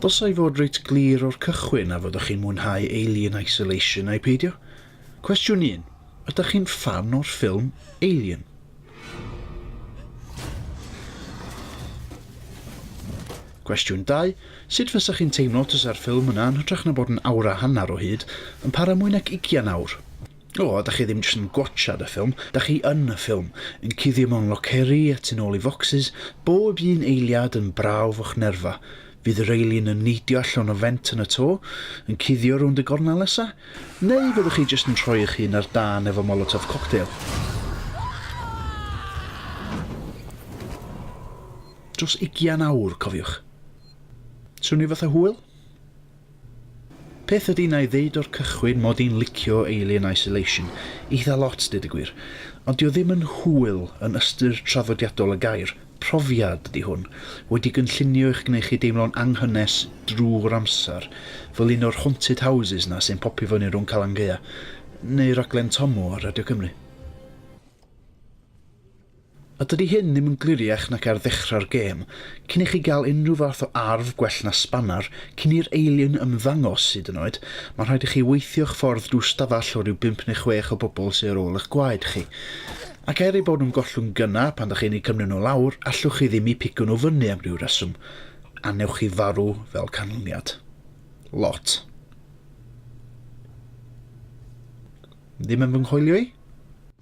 Dylsai fod reit glir o'r cychwyn a fyddwch chi'n mwynhau Alien Isolation neu peidio. Cwestiwn un, ydych chi'n ffan o'r ffilm Alien? Cwestiwn 2, sut fysa chi'n teimlo tasa'r ffilm yna yn hytrach na bod yn awr a hanner o hyd, yn para mwy nag ugian awr? O, dach chi ddim jyst yn gwatsiad y ffilm, dach chi yn y ffilm, yn cuddio mewn loceri a tu nôl i focsys, bob un eiliad yn brawf o'ch nerfa. Fydd yr alien yn neidio allan o fent yn y to, yn cuddio rownd y gornel nesa? Neu fyddwch chi jyst yn rhoi eich hun ar dân efo molotov cocktail? Dros ugian awr, cofiwch. Swnio fatha hwyl? Peth ydy na'i ddeud o'r cychwyn mod i'n licio Alien Isolation eitha lot deud y gwir, ond dio ddim yn hwyl yn ystyr traddodiadol y gair, profiad ydy hwn, wedi gynllunio i'ch gwneu chi deimlo'n anghynnes drwy'r amser, fel un o'r haunted houses na sy'n popio fyny rhwng Calan Gaea neu raglen Tommo ar Radio Cymru. A dydy hyn ddim yn gliriach nac ar ddechrau'r gêm, cyn i chi gael unrhyw fath o arf gwell na sbanar, cyn i'r alien ymddangos, hyd yn oed, mae'n rhaid i chi weithio'ch ffordd drwy stafell o ryw bump neu chwech o bobl sy ar ôl eich gwaed chi. Ac er eu bod nhw'n gollwng gynnau pan 'da chi'n eu cymryd nhw lawr, allwch chi ddim eu pigo nhw fyny am ryw reswm, a wnewch chi farw fel canlyniad. Lot. Ddim yn fy nghoelio i?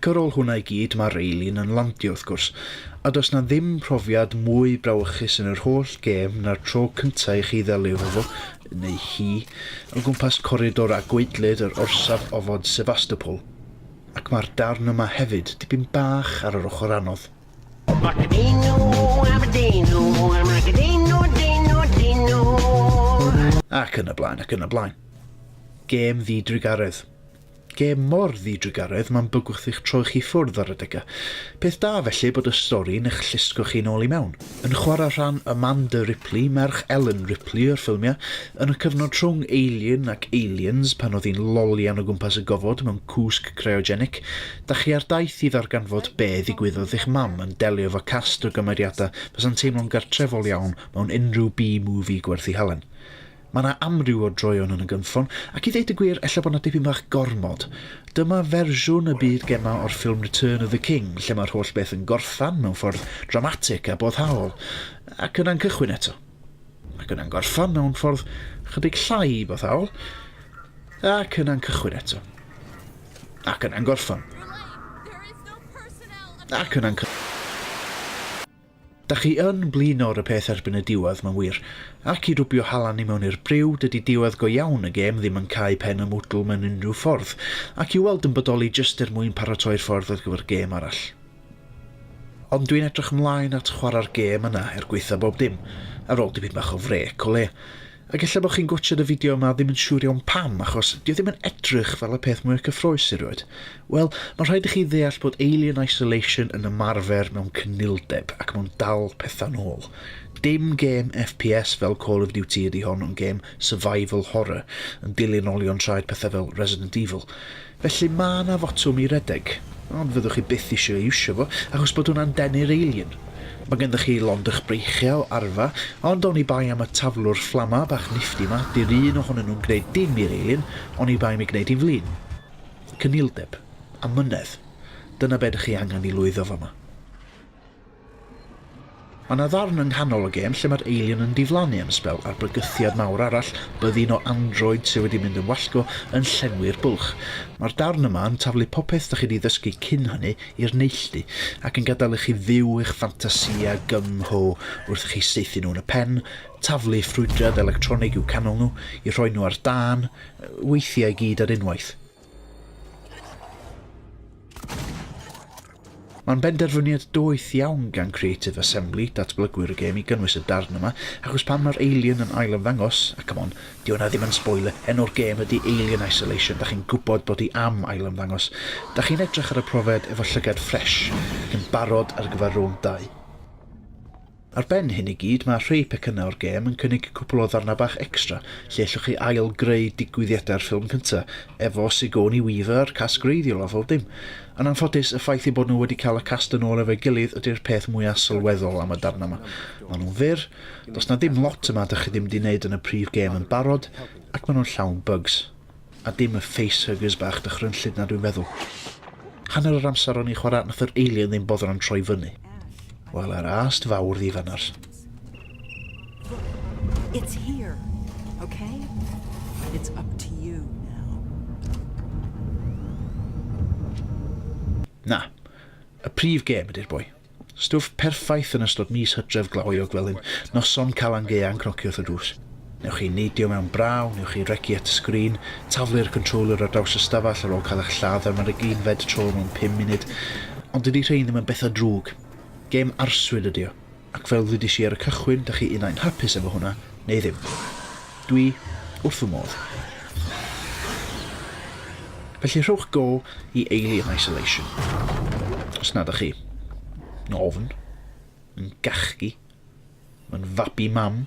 Ac ar ôl hwnna i gyd mae Raelin yn landio wrth gwrs, a does 'na ddim profiad mwy brawychus yn yr holl gêm na'r tro cynta' i chi ddelio efo fo, neu hi, o gwmpas coridor a gwaedlyd yr orsaf ofod Sebastopol. Ac mae'r darn yma hefyd dipyn bach ar yr ochr anodd. Ac yn y blaen, ac yn y blaen. Gêm ddi-drugaredd. Gêm mor ddi-drugaredd, mae'n bygwth eich troi chi ffwrdd ar adegau. Peth da felly bod y stori'n eich llusgo chi nôl i mewn. Yn chwarae rhan Amanda Ripley, merch Ellen Ripley o'r ffilmiau, yn y cyfnod rhwng Alien ac Aliens pan oedd hi'n lolian o gwmpas y gofod mewn cwsg cryogenic, Dach chi ar daith i ddarganfod be ddigwyddodd i'ch mam yn delio efo cast o gymeriadau fysa'n teimlo'n gartrefol iawn mewn unrhyw B-movie gwerthu halen? Mae 'na amryw o droeon yn y gynffon, ac i ddeud y gwir, ella bod 'na dipyn bach gormod. Dyma fersiwn y byd gemau o'r ffilm Return of the King, lle mae'r holl beth yn gorffen mewn ffordd dramatig a boddhaol, ac yna'n cychwyn eto. Ac yna'n gorffan mewn ffordd chydig llai boddhaol, ac yna'n cychwyn eto. Ac yna'n gorffan. Ac yna'n cychwyn. Da chi yn blino'r y peth erbyn y diwedd, mae'n wir, ac i rwbio halan i mewn i'r briw, dydy diwedd go iawn y gêm ddim yn cau pen y mwdwl mewn unrhyw ffordd, ac i'w weld yn bodoli jyst er mwyn paratoi'r ffordd ar gyfer gêm arall. Ond dwi'n edrych mlaen at chwara'r gêm yna er gwaetha bob dim, ar ôl dipyn bach o frêc o leia. Ac ella bo chi'n gwatshad y fideo yma a ddim yn siŵr iawn pam, achos dio ddim yn edrych fel y peth mwya cyffrous erioed. Wel, ma rhaid i chi ddeall bod Alien Isolation yn ymarfer mewn cynnildeb, ac ma'n dal petha'n ôl. Dim gêm FPS fel Call of Duty ydi hon ond gêm survival horror, yn dilyn olion traed petha fel Resident Evil. Felly ma' 'na fotwm i redeg, ond fyddwch chi byth isio ei iwsio fo, achos bod hwnna'n denu'r eilun. Ma' ganddoch chi lond o'ch breichiau, arfa, ond oni bai am y taflwr fflama bach nifty 'ma, 'di'r un ohonyn nhw'n gwneud dim i'r eilun, oni bai am ei gwneud hi'n flin. Cyniwldeb. Amynedd. Dyna be' 'dych chi angen i lwyddo fama. Mae yna ddarn yng nghanol y gêm lle mae'r alien yn diflannu am sbel a'r bygythiad mawr arall, byddin o android sydd wedi mynd yn wallgo, yn llenwi'r bwlch. Mae'r darn yma yn taflu popeth dach chi 'di ddysgu cyn hynny i'r neilltu, ac yn gadael i chi fyw eich ffantasïa gym mho wrth i chi saethu nhw yn y pen, taflu ffrwydrad electronig i'w canol nhw, i rhoi nhw ar dân, weithiau i gyd ar unwaith. Mae'n benderfyniad doeth iawn gan Creative Assembly, datblygwyr y gêm, i gynnwys y darn yma, achos pan mae'r Alien yn ail ymddangos, a come on, di hwnna ddim yn spoiler, enw'r gêm ydy Alien Isolation, da chi'n gwybod bod hi am ail ymddangos. Da chi'n edrych ar y profed efo llygad ffresh ac yn barod ar gyfer rownd 2. Ar ben hyn i gyd, mae rhai pecynnau o'r gêm yn cynnig cwpl o ddarnau bach extra lle ellwch chi ail-greu digwyddiadau'r ffilm cynta, efo Sigourney Weaver a'r cast greiddiol a phob dim. Yn anffodus, y ffaith eu bod nhw wedi cael y cast yn ôl efo'i gilydd ydi'r peth mwya sylweddol am y darnau ma. Maen nhw'n fyr, does 'na dim lot yma dych chi ddim 'di neud yn y prif gêm yn barod, ac maen nhw'n llawn bugs. A dim y facehuggers bach dychrynllyd 'na dwi'n feddwl. Hanner yr amser o'n i'n chwarae nath yr alien ddim boddran troi fyny. Wel yr ast fawr ddifanar. It's here, okay? It's up to you now. Na, y prif gêm ydy'r boi. Stwff perffaith yn ystod mis Hydref Glaweuog fel hyn, noson Calan Gaean cnoci wrth y drws. Newch chi neidio mewn braw, newch chi regi at y sgrin, taflu'r controller ar draws y stafell ar ôl cael eich lladd am yr ugeinfed tro mewn pum munud, ond dydi rhein ddim yn bethau drwg. Gêm arswyd ydi o, ac fel ddwedais i ar y cychwyn, 'da chi unai'n hapus efo hwnna neu ddim. Dwi wrth fy modd. Felly rhowch go i Alien Isolation, os nad ych chi, yn ofn, yn gachgi, yn fabi mam.